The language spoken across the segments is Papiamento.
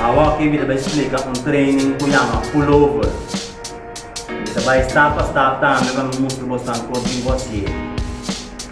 Awa oke mi ta bai splika un training ku yama pullover. Mi ta bai stap pa stap tambe pa mi mustra bosnan kon tin ku hasié.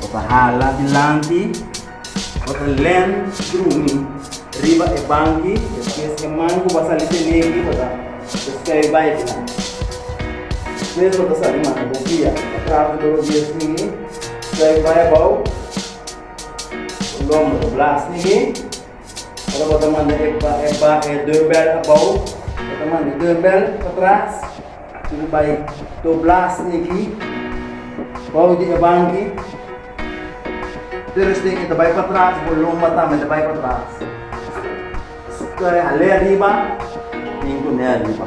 Bo ta hala dilanti, bo ta len drumi riba e banki, despues e man ku bo a sali tene aki bo ta deskrèbi bai dilanti. Despues bo ta sali manda bo guia na traha ku toro dies minu, skrebi bai abou, bo lòmber bo blas nigi. Ora bo ta manda e, e, ba, e deurbel abou, bo ta manda e deurbel pa tras i bo bai dobla sin aki bou di e banki. Pero esei ke ta bai pa tras, bo lomba tambe ta bai pa tras. Sta hal'e ariba i ku ne ariba.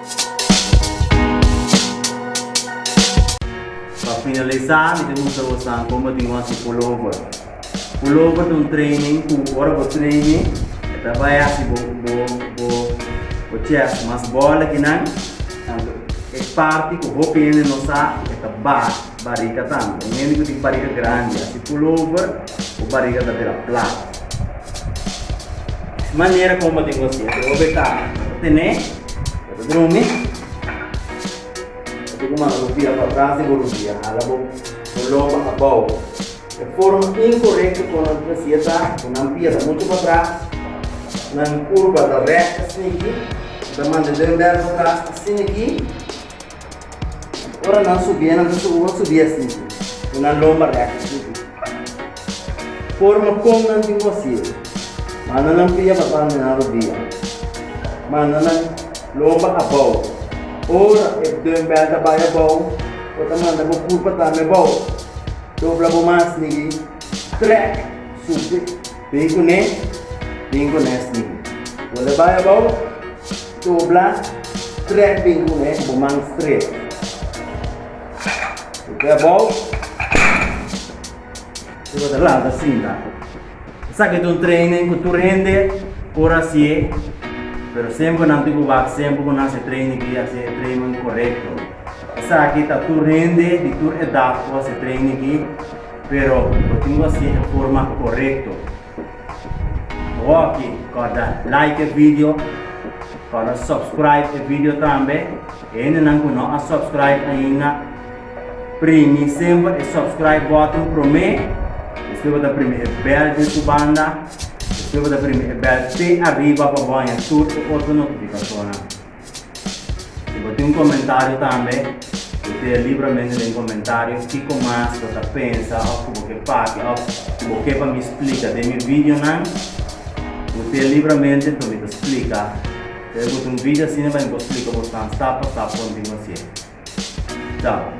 Pa finalisa mi ta mustra bosan como bo tin ku hasi pullover. Pullover ta un training ku ora bo traini e ta bai hasi bo chest mas bola ki nan. Tantu e parti ku hopi hende no sa e ta ba, bariga tambe. Un hende ku tin bariga grandi hasi pullover bo bariga ta bira plat. Manera como bo tin ku hasi e ta tene. Ya ta drumi? Oca cu manda bo bira pa tras di bo rudia, hala bo loba abao. E forma incorecto con nan hacia ta cu nan pia ta mucho patras, nan curba ta recht asina aki, nan ta manda e dedo medio patras asina aki, Ora nan subié nan ta subi wak subié así i nan lomba rèkta subi. Forma kon nan tin ku hasié. Manda nan pia pa banda nan rodia. Manda nan lomba abou. Ora e dumbbell ta bai abou, bo ta manda bo kurpa tambe abou. Dobla bo mas, nigui. Trèk subi. Bin ku ne, bin ku nes bin. Bo le bai abou, tobla, trek bin ku ne bo man stret. Bo ke abou, e bo ta lanta sinta. Esaki ta un training ku tur hende por hasié, pero semper nan tin ku wak semper ku nan hasi training ki hasi e training korekto. Esaki ta tur hende di tur edat por hasi training ki. Pero bo tin cu haci e forma corecto. Hoki corda like e video, corda subscribe e video tambe. E hendenan cu no a subscribe ainda, primi semper e subscribe button prome. Despues bo ta primi e bell den su banda. Despues bo ta primi e bell pe arriba pa bo haña tur e otro notificacionnan. Si bo tin un komentario tambe, bo tere libramente den komentario kiko mas bo ta pensa òf ku bo ke papia òf ku bo ke pa mi splika den mi videonan. Bo tere libramente pa mi ta splika. Tal bes bo tin un video asina pa mi por splika bos nan stap pa stap konta i masei. Ciao.